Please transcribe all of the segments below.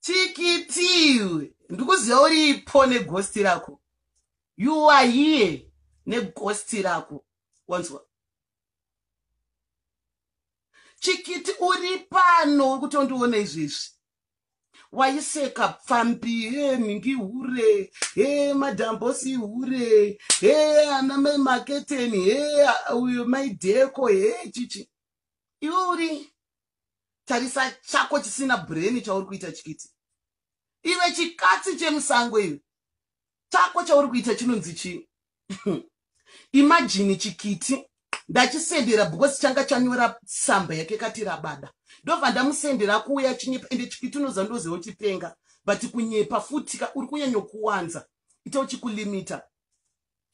chikitii ndikuziva uripo negosti rako you are here negosti rako wanzwa chikiti uri pano uri kutondiona izvezvi waiseka pfambi he nhingi hure he madhambosi hure he ana mai maketeni he uyo maidheko he chichi iwe uri tarisa chako chisina brain chauri kuita chikiti ive chikatsi chemusango ive chako chauri kuita chinonzi chii imajini chikiti ndachisendera because changa chanyora tsamba yake kati rabada ndobva ndamusendera kuuya achinyepa ende chikiti unoziva ndoziva uchipenga but kunyepa futika uri kunyanyokuwanza ita uchikulimita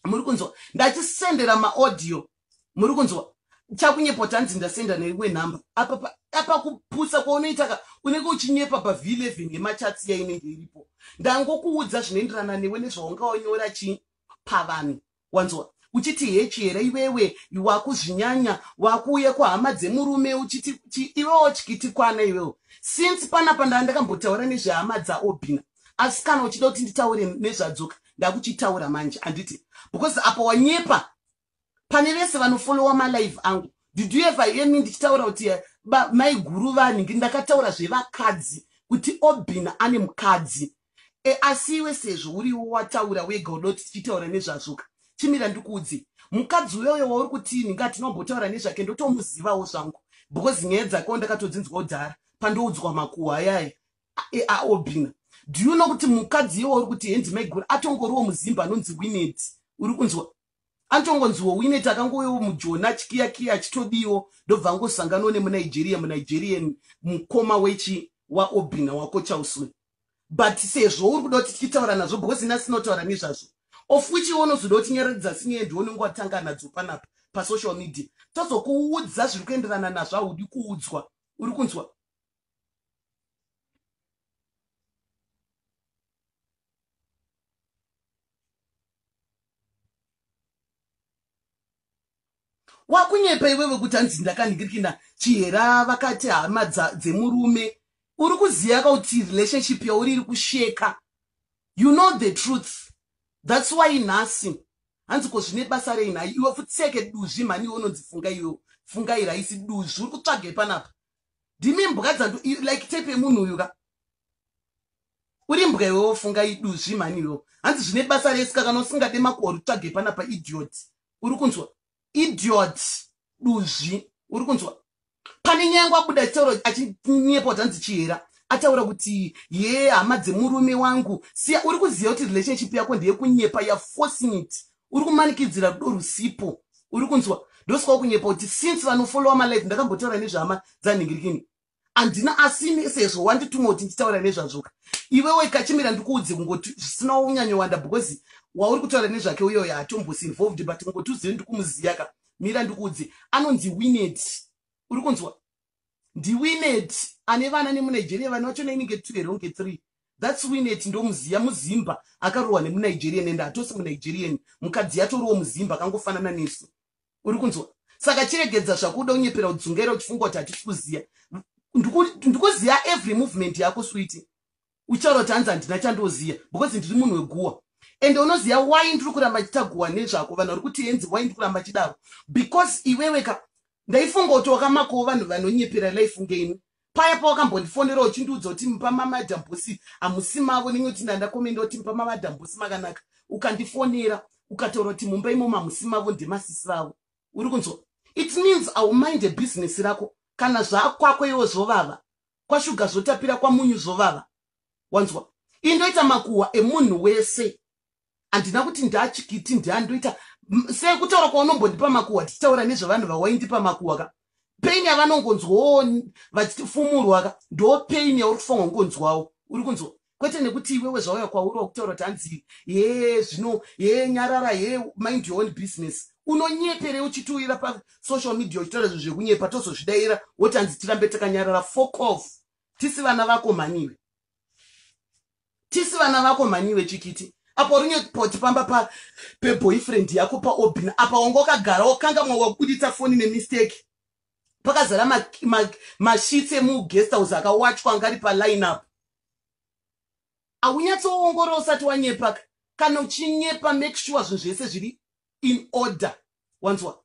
muri kunzwa ndachisendera maaudio muri kunzwa chakunyepa tanzi ndasenda newe number apa apa kupusa kwaunoita ka unenge uchinyepa pav eleven yemachatsi yainenge iripo ndangokuudza zvinoenderana newe nezvaungaonyora chii pavanhu wanzwa uchiti hechi here iwewe wakuzvinyanya wakuuya kuhama dzemurume uchiti iwewo chikiti kwana iwewo since panapa ndaa ndakambotaura nezvehama dzaobina asi kana uchida kuti nditaure nezvadzoka ndakuchitaura manje handiti because apa wanyepa pane vese vanofollowa malive angu did you ever hear me ndichitaura kuti eh, maiguru vanhingi ndakataura zvevakadzi kuti obin ane mukadzi e, asi iwe sezvo uriwo wataura wega udoti tichitaura nezvazvoka chimira ndikuudzi mukadzi uyoyo wauri kuti nhingi atinombotaura nezvake ndotomuzivawo zvangu because nyaya dzakewo ndakatodzinzwa udhara pandoudzwa makuhwa yaya aobina do you know kuti mukadzi iye wauri kuti hendi maiguru atongoriwo muzimba anonzi winet uri kunzwa atongonziwo winet akangowewo mujoni achikiyakiya achitodiwo ndobva angosangano nemunigeria munigerian mukoma wechi waobina wako chauswe but sezvo uri kuda kuti tichitaura nazvo because ina sinotaura nezvazvo of which iwe unozoda kuti nyaradza sinyaya ndione unge watanga nadzo panapa pasocial media tozokuudza zviri kuenderana nazvo haudi kuudzwa uri kunzwa wakunyepa iwewe kuti hanzi ndakanhingirikina chihera vakati hama dzemurume uri kuziva kauti relationship yauri iri kusheka you know the truth thats why nhasi hanzi ko zvine basa rei nhai iwe futseke duzvi mhani iwe unonzi funga iwe fungai raisi duzvi uri kutsvagei panapa ndimi mbwa dzandu like type yemunhu uyu ka uri mbwa iwe wofunga iduzvi mhani iwewo hanzi zvine basa resi ka kana usingade makore utsvage pana pa idiot uri kunzwa idiot duzvi uri kunzwa pane nyange abuda chitaura achinyepa kuti hanzi chihera ataura kuti ye hama dzemurume wangu siya uri kuziva kuti relationship yako ndeyekunyepa yaforcing it uri kumanikidzira rudo rusipo uri kunzwa ndosikawo kunyepa kuti since vanofollowa malife ndakambotaura nezvehama dzanhingirikini handina asini sezvo wandituma kuti nditaura nezvazvoka iwewe kachimira ndikuudze kungoti zvisina unyanyowanda because wauri kutaura nezvake uyoyo hatombos involved but kungoti uzive ndikumuziyaka mira ndikuudze anonzi winet uri kunzwa ndiwinet ane vana nemunigeria vana vacho nainenge two here unge three thats winet ndomuziya muzimba akarohwa nemunigerian ende hatosi munigerian mukadzi yatoriwo muzimba akangofanana nesu uri kunzwa saka chiregedza zvakuda unyepera udzungaira uchifunga kuti hatisi kuziya ndikuziva every movement yako switi uchitaura kuti hanzi handina chandoziva because ndiri munhu weguwa ende unoziva why ndiri kuramba ndichita guwa nezvako vanhu vari kuti henzi why ndiri kuramba chidaro because iwewe ka ndaifunga kuti wakamakowo vanhu vanonyepera life ngeimi paya pawakambotifonera uchindiudza kuti mupa mamadhambusi hamusi mavo nenge kuti ndandakomenda kuti mupa mamadhambusi makanaka ukandifonera ukataura kuti mumba imomo hamusi mavo ndemasisi vavo uri kunzwa it means aumind a business rako kana zvaakwako iwo zvovava kwashuga zvotapira kwamunyu zvovava wanzwa indoita makuhwa emunhu wese handina kuti ndachikiti ndiandoita sei kutaura kwaunombondipa makuhwa tichitaura nezvevanhu vawaindipa makuhwa ka pain yavanongonzwawo vachitifumurwa ka ndo pain yauri kufanwa kungonzwawo uri kunzwa kwete nekuti iwewe zvauya kwauri wakutaura kuti hanzi hee zvino hee nyarara hee mind your own business unonyeperei uchitiuyira pasocial media uchitaura zvinhu zvekunyepa tozozvidaira woti hanzi tirambe takanyarara fok off tisi vana vako mhaniwe tisi vana vako mhaniwe chikiti apa uri nyepoti pamba pa peboyfriend yako paobin apa wanga wakagara wakanga mwa wakubuditsa foni nemistake pakazara mashitsi ma, ma emugest house akawachwa angari paline up aunyatsoongorora usati wanyepa kana uchinyepa make sure zvinhu zvese zviri in order wanzwa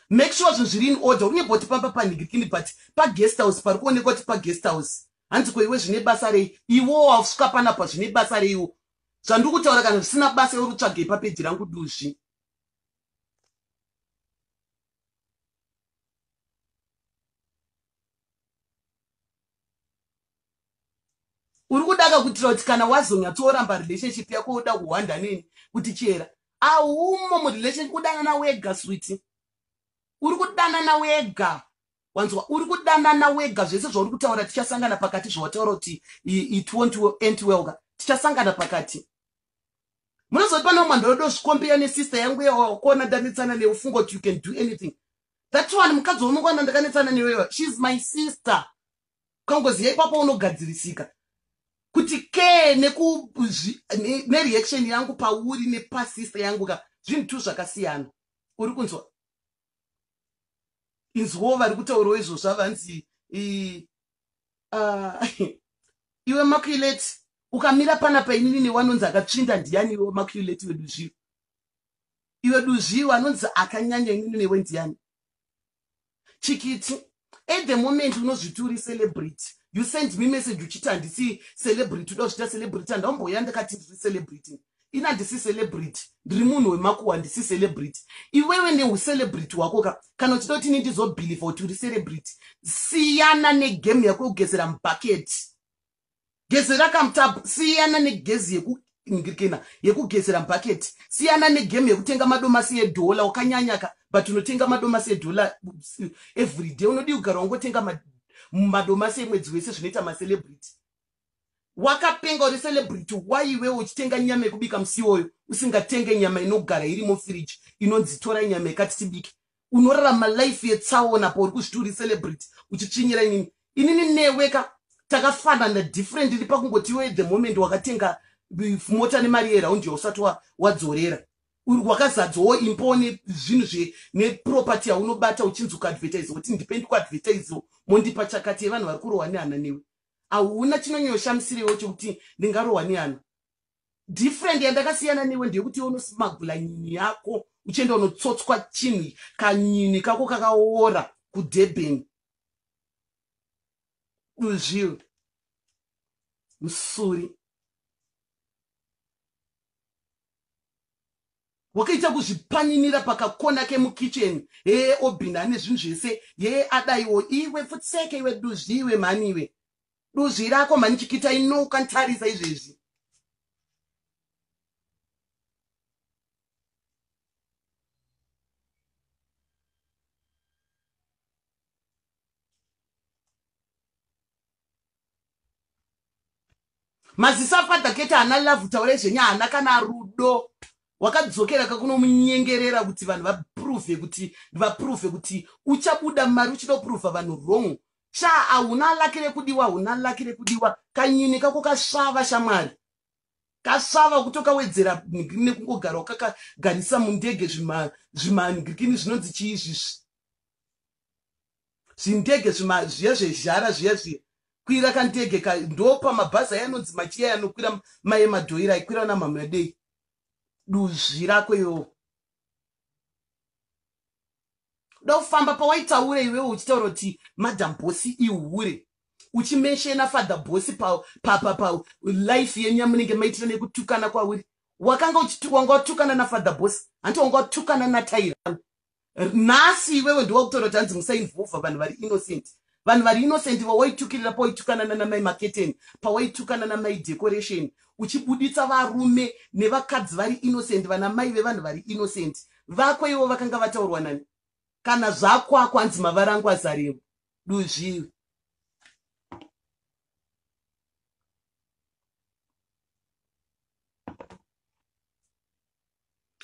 make sure zvinhu zviri in order unyeboti pamba panhigirikini but paguest house pari kuonekwa kuti paguest house hanzi ko iwe zvine basa rei iwo wausvika panapa zvine basa reiwo zvandiri kutaura kana zvisina basa iwe uri kutsvagei papeji rangu duzvi uri kuda kakutira kuti kana wazonyatsooramba relationship yako uda kuhwanda nini kuti chera aumo murelationship kudanana wega switi uri kudanana wega wanzwa uri kudanana wega zvese zvauri kutaura tichasangana pakati zvawataura kuti it wont end well ka tichasangana pakati munozoti pane umwe ndorodo zvikombiya nesister yangu yawakuona ndanetsana neufunga kuti you can do anything that one mukadzi waunongwana ndakanetsana newewa sheis my sister ukangoziva ipapo unogadzirisika kuti ke nereaction ne, ne yangu pauri nepasister yangu ka zvinhu two zvakasiyana uri kunzwa inzwawo vari kutaurawo izvozvo avanzi ah, iwe makulate ukamira pana painini newanonzi akatsvinda ndiyani iwe makulate wedu zviro iwe duzvi iwe anonzi akanyanya inini newe ndiani chikiti at the moment unozviti uri celebrity you send me message uchiti handisi celebrity uda kuchita celebrity handaumboya ndakati ndiri celebrity ini handisi celebrity ndiri munhu wemakuwa handisi celebrity iwewe neucelebrity hwako ka kana uchida kuti ini ndizobhilivha kuti uri celebrity siyana negame yako yekugezera mubhaketi gezera kamtab siyana negezi yekukena yekugezera mbhaketi siyana negame yekutenga madomasi edhola wakanyanyaka but unotenga madomasi edhola everyday unodii kugara wangotenga madomasi emwedzi wese zvinoita macelebrity wakapenga uri celebrity waiwe uchitenga nyama yekubika musiwoyo usingatenge nyama inogara iri mufiriji inonzi tora nyama yekati tibike unorarama life yetsaona apo uri kuzviti uri celebrity uchitsvinyira inini inini newe ka takafanana different iri pakungoti iwe the moment wakatenga mota nemari yeraundi yausati wadzorera wa wakazadzawo impowo nezvinhu zve neproperty yaunobata uchinzi kuadvertise kuti ndipe ndikuadvertise mondipa chakati yevanhu vari kurohwa nehana newe hauna chinonyoshamisiriwo chekuti ndingarohwa nehana different yandakasiyana newe ndeyekuti iwe unosimagula nyini yako uchienda unotsotswa chinhu kanyini kako kakaora kudurban uzvil musuri wakaita kuzvipaninira pakakona kemukicheni hee obhina ane zvinhu zvese hee adaiwo iwe futseke iwe duzviwe mhani iwe duzvi rako mhani chikita ino ukantarisa izvezvi maziso afather kete haana love taura izvenya haana kana rudo wakadzokera kakunomunyengerera kuti vanhu vaprove kuti vaprove kuti uchabuda mari uchida kuprova vanhu wrong Sha ahuna laki rekudiwa ahuna laki rekudiwa kanyini kako kasvava shamwari kasvava kutokawedzera ngirini nekungogara ukakagarisa mundege zvimangirikini zvinonzi chii izvizvi zvindege zviya zvezhara zviya zviya kwira kandege ka ndopa mabhazi aya anonzi machiya yanokwira maye madhoira aikwira namhamwadei duzvi rako yoo kuda kufamba pawaitaure iwewe uchitaura kuti madam bosi ihure uchimenshena father bosi pa, pa, pa, pa life yenyu yamunenge maitira nekutukana kwauri wakanga wanga watukana nafather bosi hanti wanga watukana nataira nhasi iwewe ndiwakutora kuti hanzi musainvova vanhu vari innocent vanhu vari innocent vawaitukirira pawaitukana nanamai maketeni pawaitukana namai decoration uchibuditsa varume nevakadzi vari innocent vana mai vevanhu vari innocent vako ivo vakanga vataurwa nani kana zvakwako hanzi mavara angu azarevo duzviwi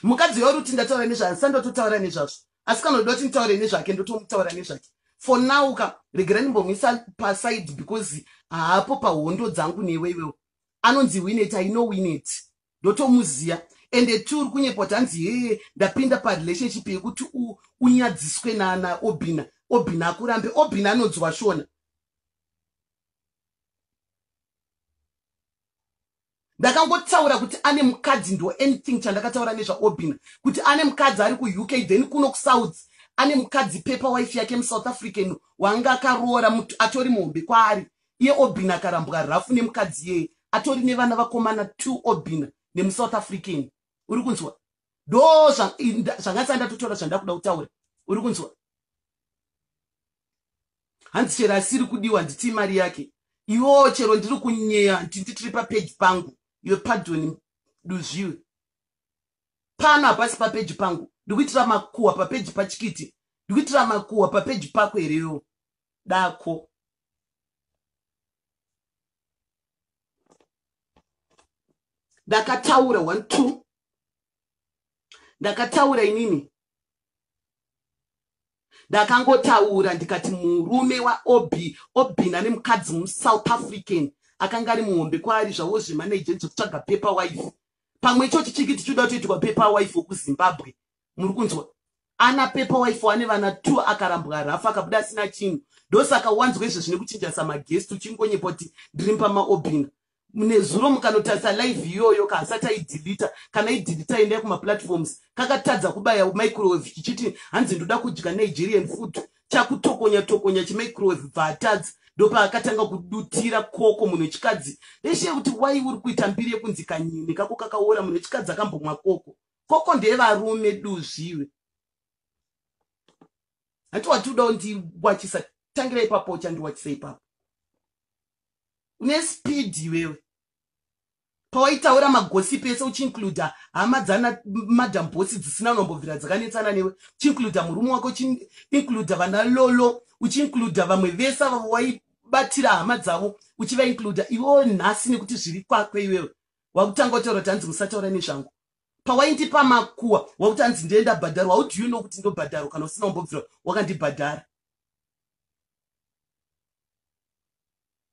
mukadzi uyo uruti ndataura nezvayo ndisati ndototaura nezvazvo asi kana uda kuti nditaure nezvake ndotomutaura nezvake for now ka regerai ndimbomuisa paside because haapo pahondo dzangu newe iwewo anonzi winet i know winet ndotomuziva ende ti uri kunyepa kuti hanzi hee ndapinda parelationship yekuti unyadziswe nana obina obina akurambe obina anonzwa shona ndakangotaura kuti ane mukadzi ndo anything chandakataura nezvaobina kuti ane mukadzi ari kuuk then kuno kusouth ane mukadzi pepa wife yake musouth african wanga akaroora atori muhombe kwaari iye obina akarambwa rafu nemukadzi yeye atori nevana vakomana two obina nemusouth african uri kunzwa ndo zvanga sanda totaura zvandakuda kutaura uri kunzwa hanzi chero asiri kudiwa handitii mari yake iwo chero ndiri kunyeya hanti nditiri papeji pangu iwe padoni duzviwe pano hapasi papeji pangu ndikuitira makuhwa papeji pachikiti ndikuitira makuhwa papeji pako hereyo dako ndakataura one two ndakataura inini ndakangotaura ndikati murume waobi obina nemukadzi musouth african akanga ari muhombe kwaari zvavo zvemanagent zvekutsvaga paper wife pamwe icho chichinge tichida kutoitwa paper wife wekuzimbabwe muri kunzwa ana pepa wife wane vana two akarambwa harafu akabuda asina chinhu ndosaka wanzwa izvezvi nekuchinja samagest uchingonyepa kuti ndiri mpamaobina nezuro mukanotarisa live iyoyo kaasati aidhilita kana idhilita endai kumaplatforms kakatadza kubaya microwave chichiti hanzi ndoda kudya nigerian food chakutokonya tokonya chimicrowave bva atadzi ndopaakatanga kudutira koko munhu wechikadzi veshe kuti wai uri kuita mbiri yekunzi kanyini kako kakaora munhu wechikadzi akambomwa koko koko ndevarume duzvi iwe hanti wati uda undiwachisa tangira ipapo uchandiwachisa ipapo une speed iwewe pawaitaura magosipi ese uchiincluda hama dzana madam bosi dzisina unombobvira dzakanetsana newe uchiincluda murume wako uchiincluda vana lolo uchiincluda vamwe vese avo waibatira hama dzavo uchivainluda iwewo nhasi nekuti zviri kwakwe iwewe wakutanga utaura kuti hanzi musataura nezvangu pawaindipa makuwa wakuti hanzi ndiye ndabhadharwa how do you know kuti ndobhadharwa kana usina umbobvira wakandibhadhara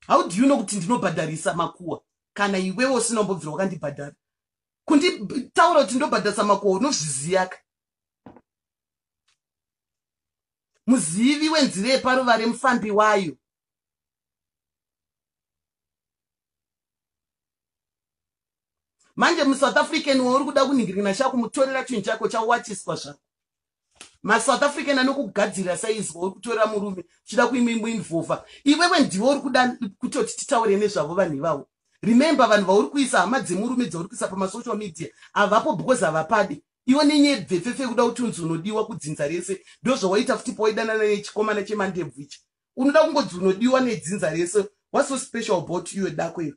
how do you know kuti ndinobhadharisa makuwa kana iwewe usina umbobvira wakandibhadhara kunditaura kuti ndobhadharisa makuwa unozviziyaka muzivi wenzira yeparuvare mufambi wayo manje musouth african wauri kuda kunhingirina chako mutorera chinhu chako chawachiswa zvako masouth african anokugadzirira saizvo uri kutorera murume chida kuimimbuinvova iwewe ndiwe uri kuda kutoti titaure nezvavo vanhu ivavo remember vanhu vauri kuisa hama dzemurume dzauri kuisa pamasocial media havapo because havapadi iwe nenyebvepfepfe kuda kuti unzi unodiwa kudzinza rese ndozvawaita futi poidanana nechikomana chemandebvu ichi unoda kungodzi unodiwa nedzinza rese what's so special about you dako iro